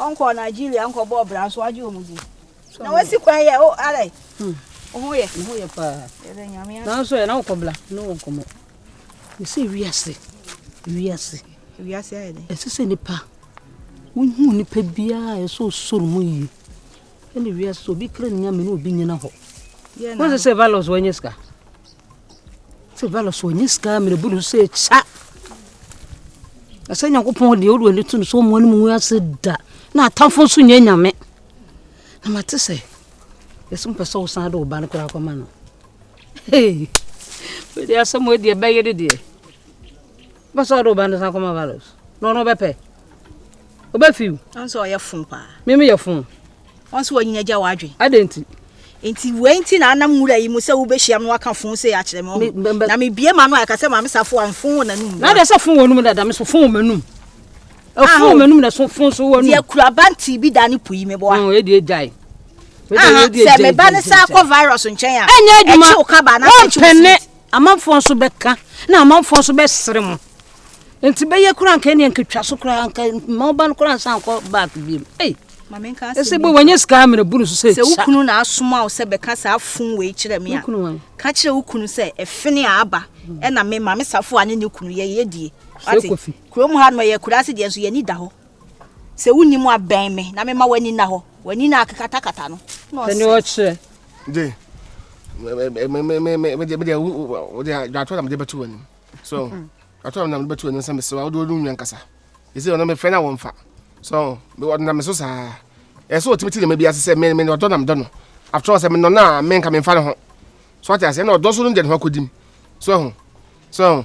ɔnkɔ nigeria nkɔbɔ ɔbra so agye ɔmu di na wasi kwan yɛ o alɛ ɔho yɛ nanso yɛ na wokɔbla ne wɔ nkɔmmɔ Mese wiase, wiase. Wiase ayɛ dɛ. Ɛsɛ sɛ nipa wohu nipa biara ɛsɛ osoro mu yie. Ɛne wiase obi kra nya me ne obi nyina hɔ. Wɔn sɛ valos wɔnyɛ sika. Sɛ valos wɔnyɛ sika mene bu no sɛ kya. Ɛsɛ Nyankopɔn deɛ wodeɛ ne to no so wɔn anim ngu ase da. Na atamfo nso nyɛ nyame. Na mate sɛ ɛsɛ mpɛ sɛ wosan de wo ba no koraa kɔma no. Wede asɛm wɔ deɛ bɛyɛ de deɛ. Bɛsɛ ɔde ɔba no san kɔma valos. Na ɔno bɛpɛ. Ɔbɛfiw. Ɔnso ɔyɛ fun paa. Mimi yɛ fun. Ɔnso ɔnyina gya wadwen. Adɛn nti? Nti wei nti na anam nwura yi mu sɛ wobɛhyia me waka fun sɛ akyerɛ me ɔho. Na mebie ma no a ɛka sɛ maame safo a mfon wɔ n'anum. Na adɛ sɛ fon wɔ anum dada me so fon wɔ m'anum. Ɛfun wɔn anum na so fun so wɔn anum. Deɛ kura banti bi da ne po yi mi bɔ a. Ɔn edi egya yi. Sɛ mi ba ne sa akɔ virus nkyɛn a. Ɛnyɛ adwuma ɛkyew kaba na ɛkyew si. Wɔmpɛnɛ amanfoɔ nso bɛka na amanfoɔ nso bɛsere mo. Nti bɛyɛ kura nka ɛni nketwa so kura nka mma ɔba no kura nsa nkɔ back bi mu. Ei. Mami nka asɛm. Ɛsɛ bɔ wɔnyɛ sika amina bu no so sɛ. Sɛ wukunu na asoma wo sɛ bɛka saa fun wei kyerɛ mi a. Wukunu wɔn. Ka kyerɛ wukunu sɛ ɛfini a aba ɛna mi maame safo a ne ne kunu yɛ yɛ die. Sɛ kofi. Kurom ha no, ɛyɛ akuraase deɛ nso yɛn ani da hɔ. Sɛ wonni mu a, bɛn me na mema w'ani nna hɔ. W'ani no a akekatakata no na ɔsɛ. Ɛne ɔkyerɛ. De, medeɛ wode dwatoɔ na mede bɛto w'anim. So, dwatoɔ na mede bɛto w'anim sɛ mesɛ wode w'adunnwa nkasa. Ɛsɛ ɔno mefrɛ no a wɔmfa. So, ɔde nam me so saa. Ɛsɛ ɔtumi te nneɛma bi ase sɛ me me ɔdɔ na medɔ no. After all sɛ menɔ no a menka memfa ne ho. So ate aseɛ na ɔdɔ so no deɛ ne ho akɔdim. So ho. So ho.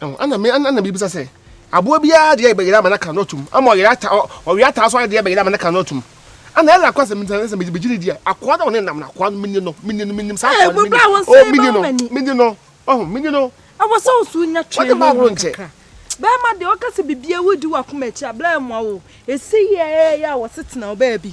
ɛna me ɛna me bisa sɛ aboa biara deɛ bɛyɛ ama n'aka no atum ama ɔyɛ ata ɔyɛ ata so adeɛ bɛyɛ ama n'aka no atum ɛna ɛla akɔ asɛm ntina sɛ megyina di a akoa na ɔne nam no akoa no mini no mini no mini saa akoa no mini o mini no mini no ɔho mini no ɛwɔ sɛ nso nya twɛn no ho kakra bɛrima deɛ ɔka sɛ biribi awudi wɔ akoma akyi a bɛrɛ mmoa wo ɛsi yɛ yɛ a wɔsetena wo baabi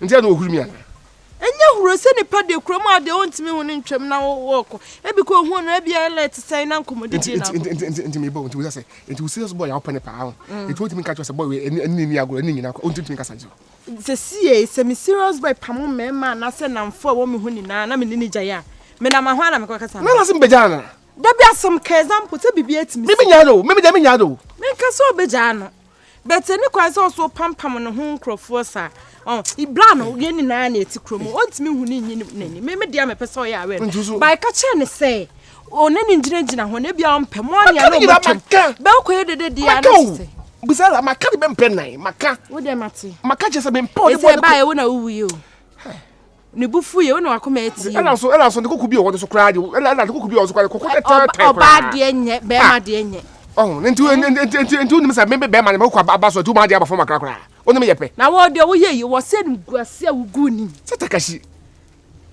Nti ɛna ohuri mi anaa? Ɛnyɛ huro sɛ nipa de kura mu a deɛ ɔntumi ho no ntwam na wɔkɔ. Ebi kɔ ohun no ebi ayɛ lɛt sɛn na nkɔmɔdidie na akɔ. Nti nti nti mi bɔ nti wosɛ sɛ nti wo serious boy a wopɛ ne paa ho. Nti wontumi nka kyerɛ sɛ boy wei ɛne ɛne ni agorɔ ɛne nyina kɔ wontumi nkasa nkyerɛ. Sɛsie sɛ me serious boy pamo mmarima anaasɛ namfo a ɛwɔ me ho nyinaa na me ne no gyae a me nam ahwan na me kɔ kasa no. Na se me bɛgyaa no anaa? Dabi asɛm ka example sɛ biribi atumi si. Me me nyaa no o me me deɛ me nyaa no o. Me nka sɛ ɔbɛgyaa no. But ɛni kwan sɛ ɔso pampam ne ho nkurɔfoɔ saa. Oh, ibla no yɛn nyinaa na ɛte kurom. Ɔntumi hu ne nyi n'ani. Me me deɛ mepɛ sɛ ɔyɛ awɛ no. Ba ɛka kyerɛ ne sɛ ɔne ne gyinagyina hɔ na ebia ɔmpɛ mo anea na ɔmo twam. Bɛkɔyɛ dede deɛ ana sɛ. Bisala maka de bɛmpɛ nan maka. Wo deɛ mate. Maka kyerɛ sɛ mempɛ ɔde bɔ ne kɔ. Ɛsɛ ba ɛwo na wowuye o. Ne bo fuiɛ, wo na w'akoma atie o. Ɛna so ɛna so ne koko bi wɔ hɔ no so koraa de ɛna ɛna ne koko bi wɔ hɔ so koraa de koko tɛtɛɛtɛ koraa. Ɔba ɔbaa deɛ nyɛ bɛrima ah. deɛ nyɛ. Ɔho ne nti nti nti nti nti wonim sɛ mebe bɛrima ne mekoko aba aba so atu maa deɛ aba fam akora koraa wonim yɛ pɛ. Na wɔ deɛ woyɛ yi wɔ sɛ niguaseɛ woguu nim. Sɛ takashi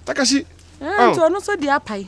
takashi. Ɛna nti ɔno nso deɛ apae.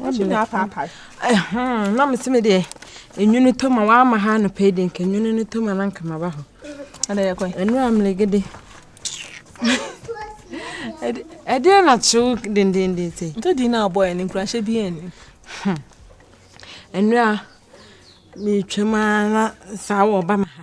Ɔtumi apaapae. Ɛhɔn na mesi me deɛ enwunu tɔ ma wama ha anɔpa yi de nka enwunu no tɔ ma na nka maba hɔ. Ɛna yɛ kwan. Ɛnu amelegede. Ɛde ɛdeɛ na kyew dendenden sɛ. Nti di na abɔ yɛ ne nkuranhyɛ bi yɛn ni. Ɛnu a metwam ara na saa wɔ ba ma ha.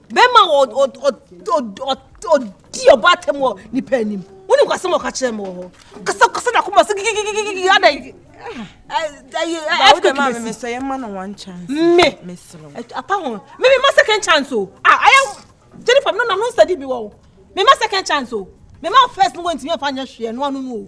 Bɛma ɔdi ɔbɔ atɛm wɔ nipa anim. Wonim kwasɛm ɔka kyerɛ me wɔ hɔ. Kasa kasa na kɔma sɛ gigigigigi adɛn. Me apa ho. Me me ma second chance o. Ah, ayɛ Jennifer no na no nsɛdi bi wɔ o. Me ma second chance o. Me ma first no wɔntumi afa nyɛ hwee no ano no o.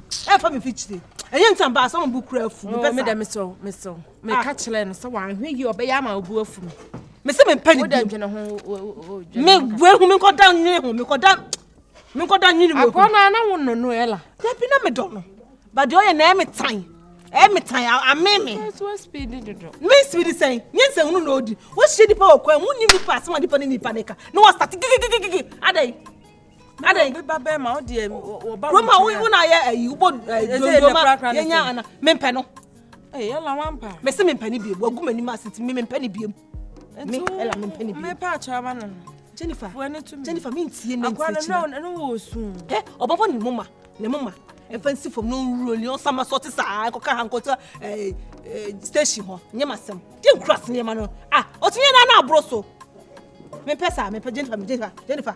ɛfa me fikyire ɛnyɛ nti aba asɛ ɔmo kura afu mepɛ sa medɛ mesɛ mesɛ meka kyerɛ no sɛ wanhwɛ yie ɔbɛyɛ ama obu afu me mesɛ mempɛ ne bi me wehu me nkɔda nwene ho me kɔda me nkɔda nwene wehu agɔ na na wo no no ɛla dabi na medɔ no ba deɛ ɔyɛ na ɛyɛ me tan ɛyɛ me tan ame me me speed sɛn nyɛ nsɛn hunu na odi wohyɛ nipa wɔ kwan mu nim nipa asɛm a nipa ne nipa ne ka na wɔstate gigigigigi adɛn adɛn obi ba bɛrima wo deɛ wɔba wo nkyɛn a wo na yɛ ayi wobɔ dondoma yɛnya ana mempɛ no ɛyɛ eh, la wampa mese mempɛ no biom wagu m'anim ase nti mempɛ no biom me ɛla mempɛ no biom mepɛ akyerɛba no Jennifer Jennifer mentie ne nkyerɛkyerɛ no wɔ su ɛ ɔbɛbɔ ne moma ne moma ɛfa nsi fam na ɔnwuro ni ɔsama sɔ te saa ɛkɔka ha nkɔtɔ eh, eh, station hɔ nyɛ ma sɛm gye nkura se nneɛma no a ah, ɔtumi yɛ no ana aboro so mempɛ saa mempɛ Jennifer Jennifer Jennifer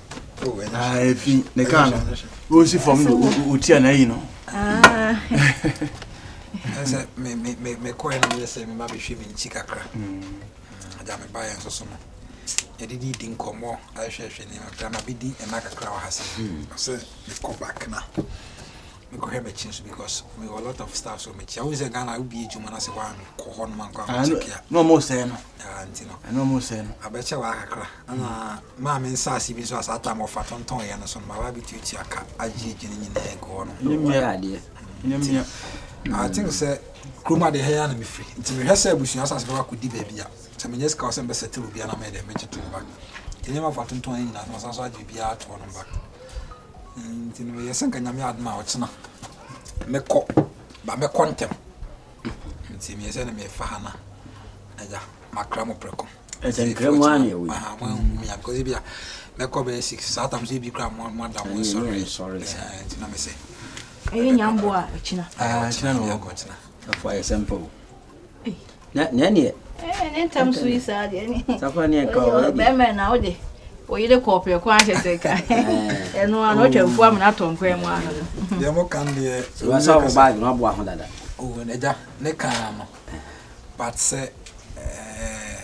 ɛfi ne kaa no ɔsi fam no ɔtia na ayi no sɛ mekɔɛ no meyɛ sɛ mema bɛhwɛ me nkyi kakra agya mebaeɛ nso so no yɛde de di nkɔmmɔ ahwɛhwɛ nneɛma kakra ma bɛdi ɛna kakra wɔ ha sɛ sɛ mekɔ back na Mekɔhwɛ m'akyi nso because mewɔ a lot of stuff so mekyia wohu sɛ Ghana wobie adwuma no sɛ woankɔ hɔ nom ankɔ ankɔkyɛke a na ɔmo sɛe no ah, nti no ɛna ɔmo sɛe no abɛkyɛ wɔ akakra ɛna maa me nsaase bi nso a saa tam ɔfa tontɔn yɛ no so no maba abɛtuatua ka agye adwene nyinaa agu hɔ no ɛnyɛ mmea adeɛ ɛnyɛ mmea I think sɛ kuroma deɛ hɛyɛ na mefiri nti mehwɛ sɛ abusua asase bɛba kɔdi baabi a sɛ menyɛ sika wɔ sɛ mebɛsɛ tele obiara na mɛyɛ dɛ mɛgye to no ba nneɛma fa tontɔn yɛ nyinaa so masan so agye biribiara toɔ no ba Nti no meyɛɛ sɛ nka Nyame yɛ adom a ɔkyena mɛkɔ, ba mɛkɔ ntɛm. Nti meyɛ sɛ na mefa ha na agya makra mo prɛko. Ɛsɛ nkra mu ara na ɛwɔ yi. Aha, mo ahu mi a, because ebi a mɛkɔ bɛyɛ six, saa tam so ebi kura mo mo ada mo nsɔre. Ɛnyɛ nsɔre. Ɛsɛ nti na mesɛ. Ɛyɛ nyambo a ɛkyena. Ah, ɛkyena na ɔkɔ kyena. Afɔ ayɛ sɛmpa o. na ɛneɛ eh, ne ntam so yi saa deɛ ne safa ne ɛka wɔ ɛdi bɛmɛ na wode oyere kɔɔ prɛko ahyɛ sɛ ka eh. ɛno ano ɔtwa mfu amena atɔ nkwan mu ano deɛ mo kan deɛ sɛ wo baage no aboa ho dada ɔwɔ oh, agya ne kan ano but sɛ eh,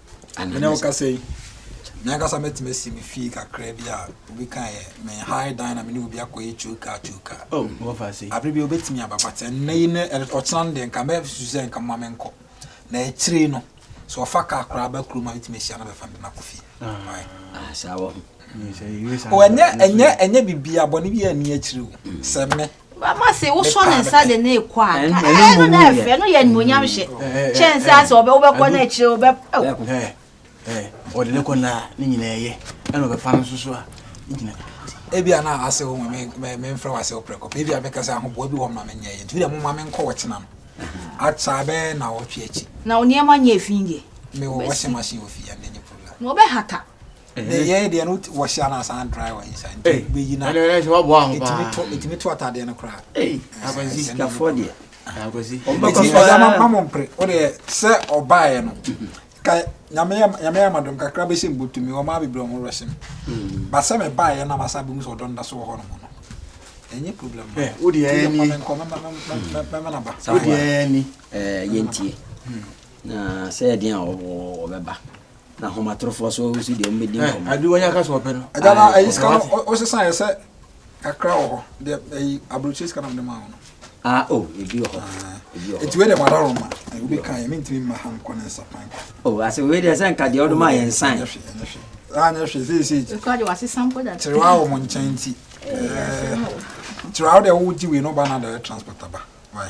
Ɛnnɛ wokasa yi, me ankasa mɛtumi asi me fie kakra bi a obi ka yɛ me high dan na me ne obi akɔyɛ choka choka. Oh, wɔfa ase. Abere bi obetumi aba but ɛnnɛ yi ne ɔkyena no deɛ nka mɛsusu sɛ nka mma menkɔ. Na akyire no so ɔfa kaa koraa ba kurom a metumi ahyia no bɛfa no de no akɔ fie. Ah, saa wɔ ho. Ɛnyɛ ɛnyɛ ɛnyɛ biribi abɔne bi a ɛni akyire o. Sɛ me Mama se wosɔ ne nsa de ne kɔ a nka ɛɛ no na ɛfɛ no yɛ animonyam hyɛ kyɛn sɛ asɛ ɔbɛ wobɛkɔ no akyire wobɛ. Ɔde ne kɔ na ne nyinaa yɛ ɛna ɔbɛfa no nso so a ne gyina. Ebi a na ase ho me me mfrɛ wase ɔprɛ kɔ ebi a bɛka sɛ ahoboa bi wɔ ma me nyɛ yɛ nti bi a mo ma me nkɔ wɔ kyena no akya bɛ na wɔtwe akyi. Na wo nneɛma nyɛ fi deɛ. Me wɔ washing machine wɔ fi ya ne nyɛ problem. Na ɔbɛhata. yɛyɛ deɛ no wɔhyɛ ana asan dry wɔ nsa nti bɛyi na ɛtumi to atadeɛ no koraa akwasistafoɔ deɛ ɔmbɛkɔsɔmamo mpere wodeɛ sɛ ɔbaeɛ no ka nyame yɛ amadom kakra bɛhyɛ mbotumi ɔma bebrɛ ɔmo rɛhyɛ m ba sɛ mebaeɛ na masa bɛmu sɛ ɔdɔ nda so wɔ hɔ no mu no ɛnyɛ problem wodeɛ ni wodeɛ ni yɛntie na sɛ ɛdeɛn a ɔbɛba na ahomatorofoɔ so si deɛ wɔbɛdi eh, nkɔmmɔ ade wɔnya ka sɛ ɔpɛ no ɛda no ayi sika no wosesa yɛ sɛ kakra wɔ hɔ deɛ ayi aburokyire sika nam de maa no ah o oh, ebi wɔ hɔ ah. ebi wɔ hɔ eti wei deɛ mara roma ebi kan yɛ mintimi mma ha nkɔ ne nsa pan o oh, ase wei deɛ sɛ nka deɛ ɔde maa yɛ nsan ɛnyɛ hwɛ ɛnyɛ hwɛ ɛnyɛ hwɛ seesei ekura de wase sampo da kyerɛ wa wɔ mo nkyɛn ti ɛɛ kyerɛ wa de wogye wei no ba na de transport aba wai.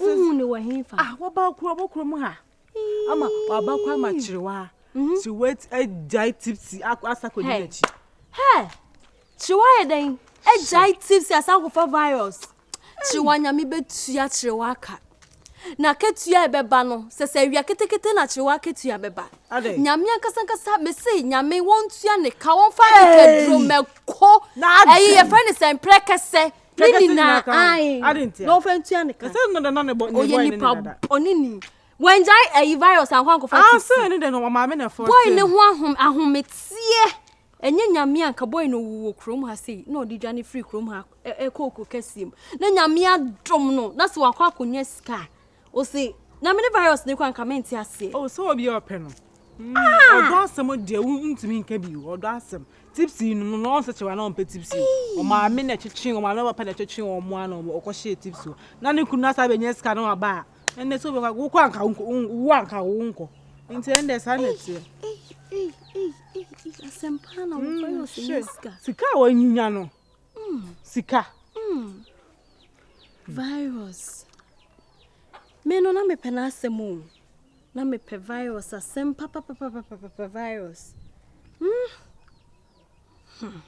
wohu ne wɔ hefa ah wɔba kuro ɔbɔ kuro mu ha ama waba kɔ ama kyerewa mhm. ti wet agyae tipsi asa kɔdi n'akyi kyerewa yɛ dɛn agyae tipsi asa akɔfa virus kyerewa nyame bɛtua kyerewa aka na ketua ɛbɛba no sɛ sɛ awia ketekete na kyerewa ketua bɛba nyame ankasankasa mese nyame wɔntua ne ka wɔmfa nkaduro mɛko ɛyi yɛfrɛ ne sɛ mprɛ kɛsɛ ne nyinaa ae na ɔfa ntua ne ka ɔyɛ nipa ɔne ni wɔngyae ayi virus ankɔ ankɔfa ah, boy ne ho ahom ahometeɛ ɛnyɛ nyame anka boy no ɔwuwɔ kurom ha sei na ɔde dwane firi kurom ha ɛkɔ ɔkuro kɛseɛ mu na nyame adom no na sɛ wakɔ akɔnya sika Ose na mene virus no kora nka mente aseɛ. Oh sɛ obi a ɔpɛ no. Ahaa. Ɔdɔ asɛm deɛ wo ntumi nka bi o ɔdɔ asɛm tipsy no no ɔnsɛ kyɛw ana ɔmpɛ tipsy o Eii. ɔmaame na ɛtwetwe ɔmaame na papa na ɛtwetwe ɔmo ana ɔmo ɔkɔ hyɛɛ tipsy o na ne kunu no asan abɛnya sika na waba a ɛnɛ sɛ obɛkɔ a wo koraa nka wo wo anka wo wonkɔ nti ɛndeɛ saa na ɛteɛ Eii Eii Eii Eii Eii Asɛm paa na wo virus nya sika. Sika a wanya no sika. Virus. Me no na mepɛ n'asɛm o. Na mepɛ virus asɛm papapapapapa virus. Hmm. Hmm.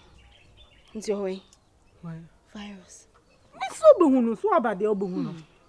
Nti ɔwɛn. Virus. Me so bɛhu no so aba deɛ ɔbɛhu no. Hmm.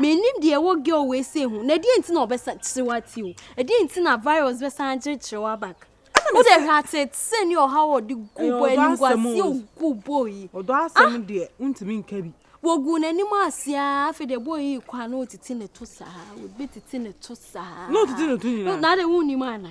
Mennim deɛ ɛwɔ girl wei sei ho. Na deɛ nti na ɔbɛsa kyerɛ wati o. Ɛdeɛ nti na virus bɛsan akyerɛ kyerɛ wa back. Wo de hwɛ atete ne ɔhaw a ɔde gu bɔ anim guasie ogu bɔ yi. Ɔdɔ asɛm deɛ wontumi nka bi. Wɔgu n'anim ase a afei deɛ bɔ yi kɔ a na ɔtete ne to saa. Ɔbɛtete ne to saa. Na ɔtete ne to nyinaa. Na de wonnim ana.